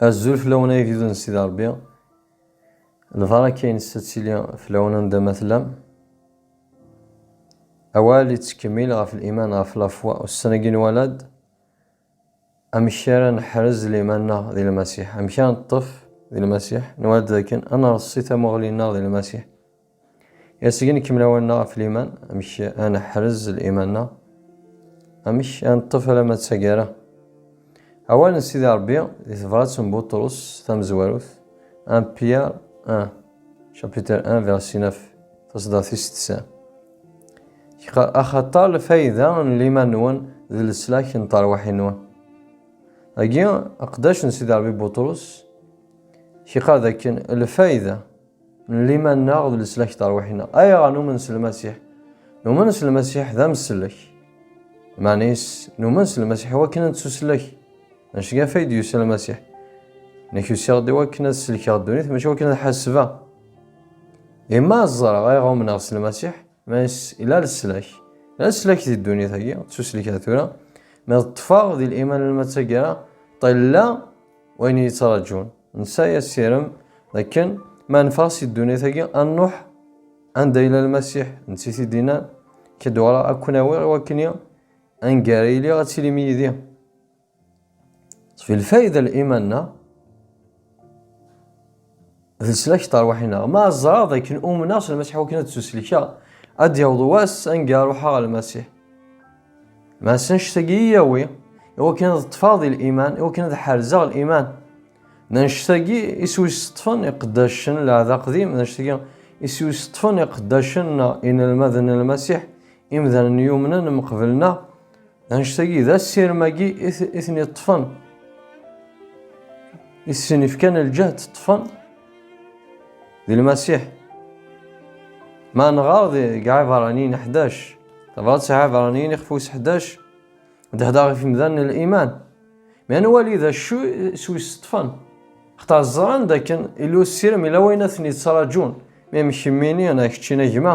Azul fell-awen ay agdud n Sidi Ṛebbi. Lbaraka-nnes ad tili fell-awen anda ma tellam. Awal yettkemmil ɣef liman ɣef lafwa ussan-agi n walad. Amek ara neḥrez liman-nneɣ di Lmasiḥ? Amek ara neṭṭef di Lmasiḥ? Nwala-d dakken ad nreṣṣi tamuɣli-nneɣ di Lmasiḥ. Asgen kemmel awal-nneɣ ɣef liman, amek ad neḥrez liman-nneɣ, amek ad neṭṭef alamma d taggara. Awal n Sidi Rebbi di tebrat n Buṭrus tamezwarut, 1 Pierre 1, chapitre 1, verset 9, taṣeddart tis tisa. Axaṭer lfayda n liman-nwen d leslak n terwaḥin-nwen. Agi, aqdac n Sidi Rebbi Buṭrus, kiqar dakken lfayda n liman-nneɣ d leslak terwiḥ-nneɣ. Ayɣer numen s Lmasiḥ? Numen s Lmasiḥ d ameslek. Maɛna-is, numen s Lmasiḥ iwakken ad nettuslek. Anect kan fay d-yusa Lmasiḥ. Nekk usiɣ-d iwakken ad selkeɣ ddunit, mačči iwakken ad ḥasbeɣ. Imma ẓreɣ ayɣer umneɣ s Lmasiḥ, maɛna-is ila leslak. Ila leslak di ddunit-agi, ttuslek ar tura. Ma d ṭṭfeɣ di liman n lma d taggara, ṭilla. Wayen i yettraǧun. Nesɛi asirem d akken ma neffeɣ si ddunit-agi ad nruḥ anda yella Lmasiḥ, netta i t-id-yennan, Akka ad uɣaleɣ ad ken-awiɣ i wakken i, anga ara iliɣ ad tilim yid-i. Ţef-it lfayda n liman-nneɣ. D leslak tarwiḥ-ineɣ. Ma ẓraɣ d akken umneɣ s Lmasiḥ wakken ad d-suslkeɣ, ad d-yaweḍ wass anga ruḥeɣ ɣer Lmasiḥ. Ma s annect-agi i yawi, i wakken ad ṭṭfeɣ di liman, i wakken ad ḥerzeɣ liman. D annect-agi i s-wis-ṭṭfen iqeddacen n Lɛahd Aqdim, d annect-agi i s-wis-ṭṭfen iqeddacen neɣ inelmaden n Lmasiḥ, imdanen yumnen mqebel-nneɣ. Anect-agi d asirem-agi i ten-iṭṭfen, i sen-ifkan lǧehd ṭṭfen di Lmasiḥ. Ma nɣer deg Ɛibṛaniyen 11, tabrat s Ɛibṛaniyen ixef wis 11, d hdeṛ ɣef imdanen n liman. Mi ad nwali d acu s wis ṭṭfen, xtar ẓran d akken illa usirem, illa wayen ad ten-yettṛaǧun, mi mkemminin, a keččin a gma,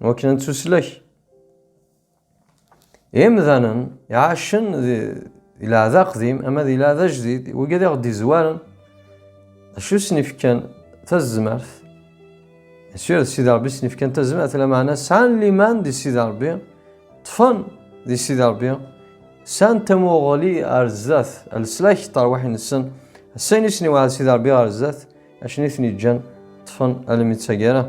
Wakken ad nettuslek. Imdanen iɛacen di leɛda aqdim ama di leɛda ajdid, wigi ad aɣ-d-izwaren. Acu sen-ifkan tazmert? Sûr d Sidi Ṛebbi sen-ifkan tazmert, lameɛna sɛan liman di Sidi Ṛebbi, ṭṭfen di Sidi Ṛebbi, sɛan tamuɣli ar zdat, leslak n terwiḥin-nsen, s ayen i sen-iweɛɛed Sidi Ṛebbi ɣer zdat, Acni i ten-yeǧǧan ṭṭfen almi d taggara.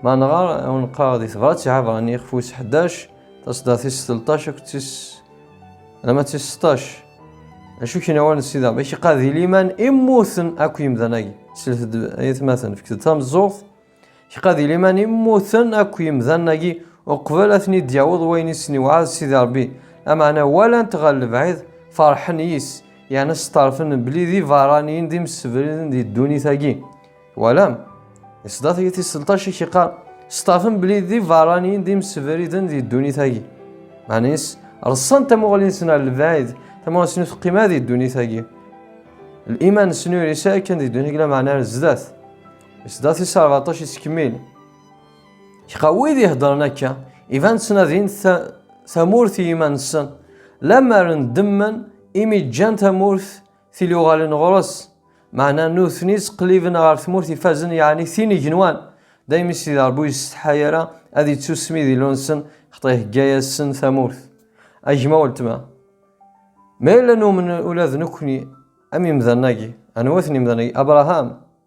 Ma nɣar aw neqqar di tebrat iɛabran ixef wis ḥdac, tasdaɣ tis telṭac akked tis alama d tis seṭṭac. Acu kien awal n Sidi Rebbi? Iqad di liman i mmuten akk yimdan-agi. Slet-d ay atmaten, fket-d tameẓẓuɣt Kqadi liman i mmuten akk yimdan-agi uqbel ad ten-id-yaweḍ wayen i sen-iwɛed Sidi Ṛebbi, lameɛna walan-t ɣer lebɛid, ferḥen yis, yerna sṭerfen belli d ibeṛṛaniyen d imsebren di ddunit-agi. Twalam? Di ṣṣdat-agi tis selṭac i k-iqqar, sṭerfen belli d ibeṛṛaniyen d imsebriden di ddunit-agi. Meɛna-is, reṣṣan tamuɣli-nsen ɣer lebɛid, tamuɣli-nsen ur teqqim ara di ddunit-agi. Liman-nsen ur yesɛi kan di ddunit-agi lameɛna ar zdat. Sdat is Rbaṭac yettkemmil. Iqa wid iheddren akka, iban ttnadin tamurt i yiman-nsen, lemmer ndemmen imi ǧǧan tamurt tili uɣalen ɣer-s, meɛna nutni ttqelliben ɣer tmurt ifazen yeɛni tin igenwan, daymi s di Ṛebbi ur yessetḥay ara ad yettusmi di lu-nsen, xeṭṭa ihegga-yasen tamurt. A gma weltma, ma yella numen ula d nekkni am imdanen-agi, anwa-ten imdanen-agi? Abraham,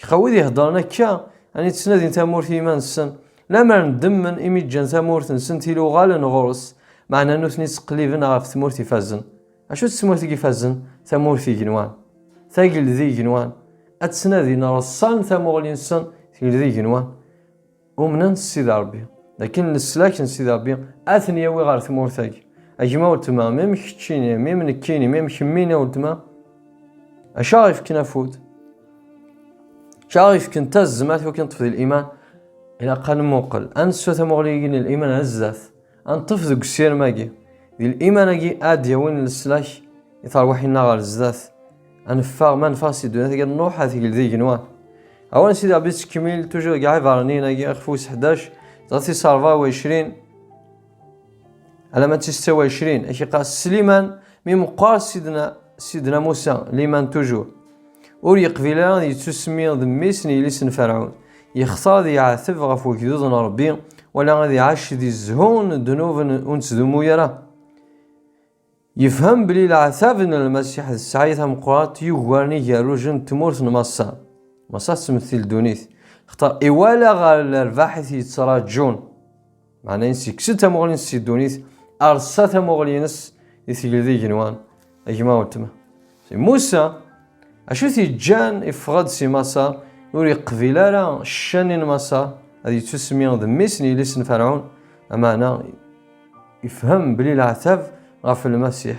Kqa wid iheddren akka, ani ttnadin tamurt i yiman-nsen, lemmer ddemmen imi ǧǧan tamurt-nsen tili uɣalen ɣur-s, meɛna nutni ttqelliben ɣef tmurt ifazen. Acu d tmurt i ifazen? Tamurt igenwan. Tageldi igenwan. Ad ttnadin reṣṣan tamuɣli-nsen, tegeldi igenwan. Umnen s Sidi Ṛebbi, dakken leslak n Sidi Ṛebbi ad ten-yawi ɣer tmurt-agi. A gma weltma, mi m keččini, mi m nekkini, mi m kemmini a weltma, acu aɣ ifken afud? Acu aɣ ifken tazmert i wakken ṭṭef di liman? Ilaq ad nemmuqqel, ad nessu tamuɣli-agi n liman ar zdat. Anṭef deg usirem-agi, d liman-agi ad d-yawin leslak i terwiḥin-nneɣ ɣer zdat. Ad neffeɣ, ma neffeɣ si ddunit-agi, ad nruḥ ad tegl d igenwan. Awal n Sidi Rebbi yettkemmil tuǧur deg Iɛibarniyen-agi, ixef wis ḥdac, dɣa tis ṛebɛa u ɛecrin, alamma d tis tta u ɛecrin, ak iqqar Sliman, mi meqqer Sidna, Sidna Musa, liman tuǧur. Ur yeqbil ara ad yettusmi d mmi-s n yelli-s n Ferɛun. Yextar ad yeɛteb ɣef wegdud n Ṛebbi, wala ad iɛac di zzhu n ddnub ur nettdumu ara. Yefhem belli leɛtab n Lmasiḥ d ssɛaya tameqqrant yugaren igerrujen n tmurt n Maṣer. Maṣer tettmetti ldunit, xtar iwala ɣer lerbaḥ i t-yettraǧun. Meɛna yesseksen tamuɣli-nnes si ddunit, rsa tamuɣli-nnes i tigleḍ igenwan, a gma weltma. Si Musa, acu t-yeǧǧan iffeɣ-d si Maṣer, ur yeqbil ara ccan-nni n Maṣer, ad yettusmi d mmi-s n yelli-s n Ferɛun, ameɛna ifhem belli leɛtab ɣef Lmasiḥ.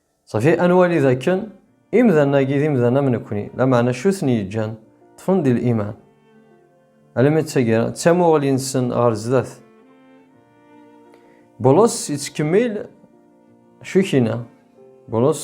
Safi ad nwali dakken imdanen-agi d imdanen am nekkni, lameɛna acu i ten-yeǧǧan ṭṭfen di liman? Alammi d taggara, d tamuɣli-nsen ɣer sdat. Bulus yettkemmil acu i k-yenna? Bulus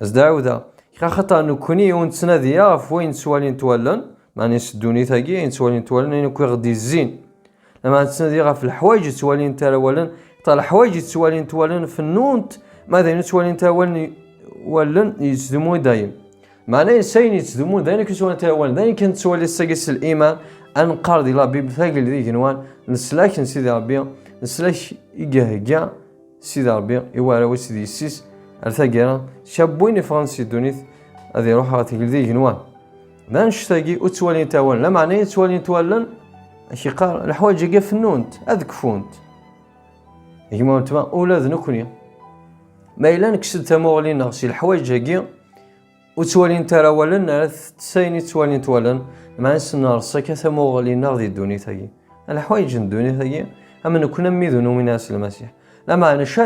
Zdawda, kra xaṭa nekkni ur nettnadi ɣef wayen ttwalin twalen, maɛni s ddunit-agi ayen ttwalin twalen ayen akk i ɣ-d-izzin. Lameɛna nettnadi ɣef leḥwayeǧ i ttwalin tarawalen, xaṭa leḥwayeǧ i ttwalin twalen fennunt, ma d ayen i ttwalin tarawalen wallen yettdumu i dayem. Maɛna s ayen yettdumun d ayen akk i ttwalin tarawalen, d ayen kan nettwali sagi s liman, ad neqqar di labib tagel d igenwan, leslak n Sidi Rebbi, leslak i ihegga Sidi Ṛebbi i warraw-is d yessi-s ar taggara, cab win iffɣen si ddunit ad iruḥ ɣer tegldi igenwan. D annect-agi ur ttwalint awal, lameɛna i ttwalint wallen, ad k-iqqar leḥwaǧ-agi ad fennunt, ad kfunt. Gma weltma ula d nekkni, ma yella nekkes-d tamuɣli-nneɣ si leḥwaǧ-agi, Ur ttwalint ara wallen ara tettess ayen i ttwalint wallen, meɛna s-ners akka tamuɣli-nneɣ di ddunit-agi. Leḥwayeǧ n ddunit-agi am nekkni am wid ur numin ara s Lmasiḥ. Lameɛna acu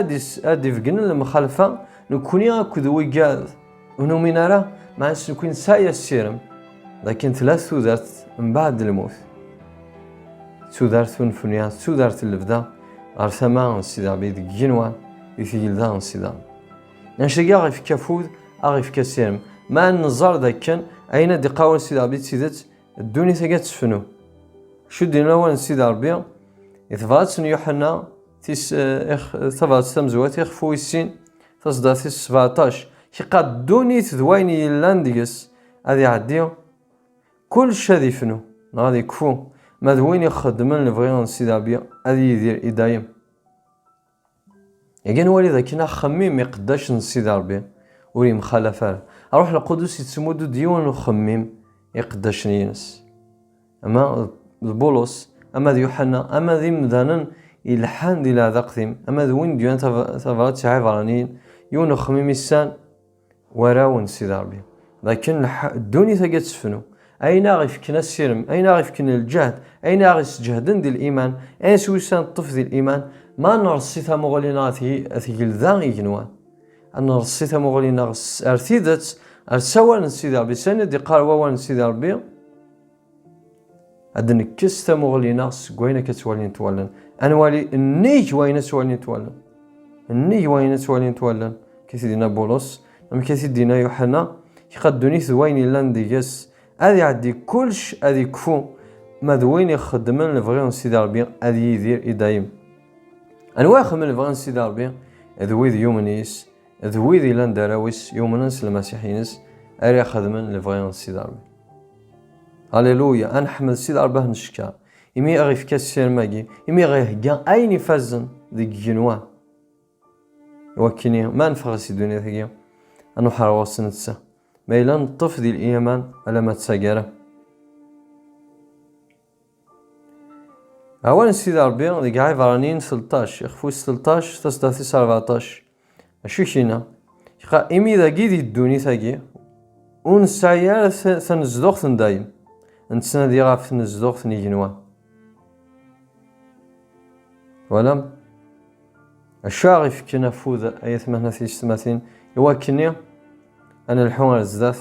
ara d-ibegnen lemxalfa nekkni akked wigad ur numin ara, meɛna s nekkni nesɛa assirem d akken tella tudert mbeɛd lmut, d tudert unefniya, d tudert n lebda ɣer tama n Sidi Rebbi deg yigenwan, di tgelda n Sida. Anect-agi aɣ ifka afud, aɣ ifka sirem. Ma neẓẓar d akken, ayen ad iqawen Sidi Rebbi d tidet, ddunit-agi ad tefnu. Cuddin lawan n Sidi Rebbi, i tebrat n Yuḥenna, tis, eh, ix, tabrat tamezwat, ixef wis sin, taṣeddart-is sbeɛṭac, iqad ddunit d wayen yellan deg-s ad iɛeddi, kullec ad ifnu, neɣ ad ikfu, ma d win ixeddmen lebɣi n Sidi Rebbi ad yidir i dayem. Igan wali d akken axemmim iqeddac n Sidi Rebbi ur yemxalaf ara. Ṛuḥ Lqudus yettmudd-d yiwen n uxemmim i iqeddacen-ines. Ama d Bulus, ama d Yuḥanna, ama d imdanen ileḥḥan di leɛda qdim, ama d win d-yuran tabrat i Ɛibraniyen, yiwen n uxemmim i ssan, Warraw-n Sidi Ṛebbi, d akken ddunit-agi ad tefnu, ayen aɣ ifken assirem, ayen aɣ ifken lǧehd, ayen aɣ isǧehden di liman, ayen s wis ad neṭṭef di liman, ma ad nreṣṣi tamuɣli-nneɣ ad tgelda igenwan, ad nreṣṣi tamuɣli-nneɣ ar tidet, ar sawal n Sidi Ṛebbi, s ayen i d-iqqar wawal n Sidi Ṛebbi. ad nekkes tamuɣli-nneɣ seg wayen akka ttwalint wallen ad nwali nnig wayen ad ttwalint wallen nnig wayen ad ttwalint wallen kif dina bulus amek i t-id-dina yuḥana iqaddunit d wayen yellan deg-s ad iɛeddi kullec ad ikfu ma d win ixeddmen lebɣi n Sidi Ṛebbi ad yidir i dayem anwa ixeddmen lebɣi n Sidi Ṛebbi d wid yumen yes D wid ilan d arraw-is yumnen s lmasiḥ-ines ara ixedmen lebɣi n Sidi Rebbi. Aleluya, ad nḥemmel Sidi Rebbi ad neckeṛ, imi i ɣ-ifka ssirem-agi, imi i ɣ-ihegga ayen ifazen deg igenwa. Iwakken-i, ma neffeɣ si ddunit-agi, ad nuḥeṛ ɣur-s netta, ma yella neṭṭef di liman alamma d taggara. Awal n Sidi Ṛebbi deg Ɛibraniyen selṭac, ixef wis selṭac, taṣeddart-is rbeɛṭac. Acu i k-yenna? Iqa imi dagi di ddunit-agi ur nesɛi ara tanezduɣt n dayem, nettnadi ɣef tnezduɣt n igenwa. Twalam? Acu ara ɣ-ifekken afud ay atmaten at yessetmatin iwakken ad nelḥu ar zdat?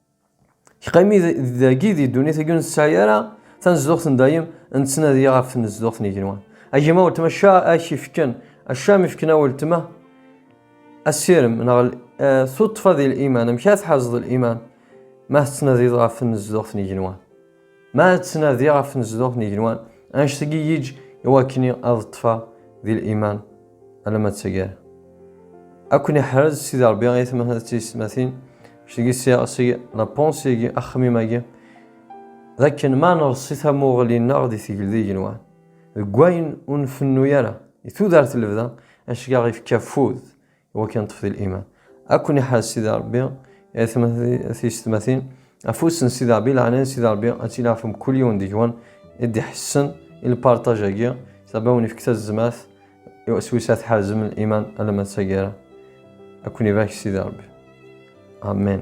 Qimi dagi di ddunit-agi ur nesɛi ara tanezduɣt n dayem, nettnadi ɣef tnezduɣt n yigenwan. A gma weltma ca ak ifken, acam ifken a weltma asirem neɣ eh, tuṭṭfa di liman, amek ara tḥerzeḍ liman ma tettnadiḍ ɣef tnezduɣt n yigenwan. Ma ttnadiɣ ɣef tnezduɣt n yigenwan, annect-agi yiǧ i wakken ad ṭṭfeɣ di liman alamma d taggara. Ad ken-iḥrez Sidi Rebbi ay atmaten d teysetmatin, annect-agi sɛiɣ seg la pensée-agi, axemmim-agi, d akken ma nerṣi tamuɣli-nneɣ di tegldi n yigenwan, deg wayen ur nfennu ara, di tudert n lebda, annect-agi ad aɣ-ifk afud wa kan ṭṭef di liman akun iḥaz sidi rebbi tisetmatin afus n sidi rebbi laɛnaya n sidi rebbi ad tilaɛfem kul yiwen deg-wen i d-iḥessen i lpartaj-agi sidi rebbi awen ifk tazezmat s wis ad tḥerzem liman alamma d taggara akun ibarak sidi rebbi amen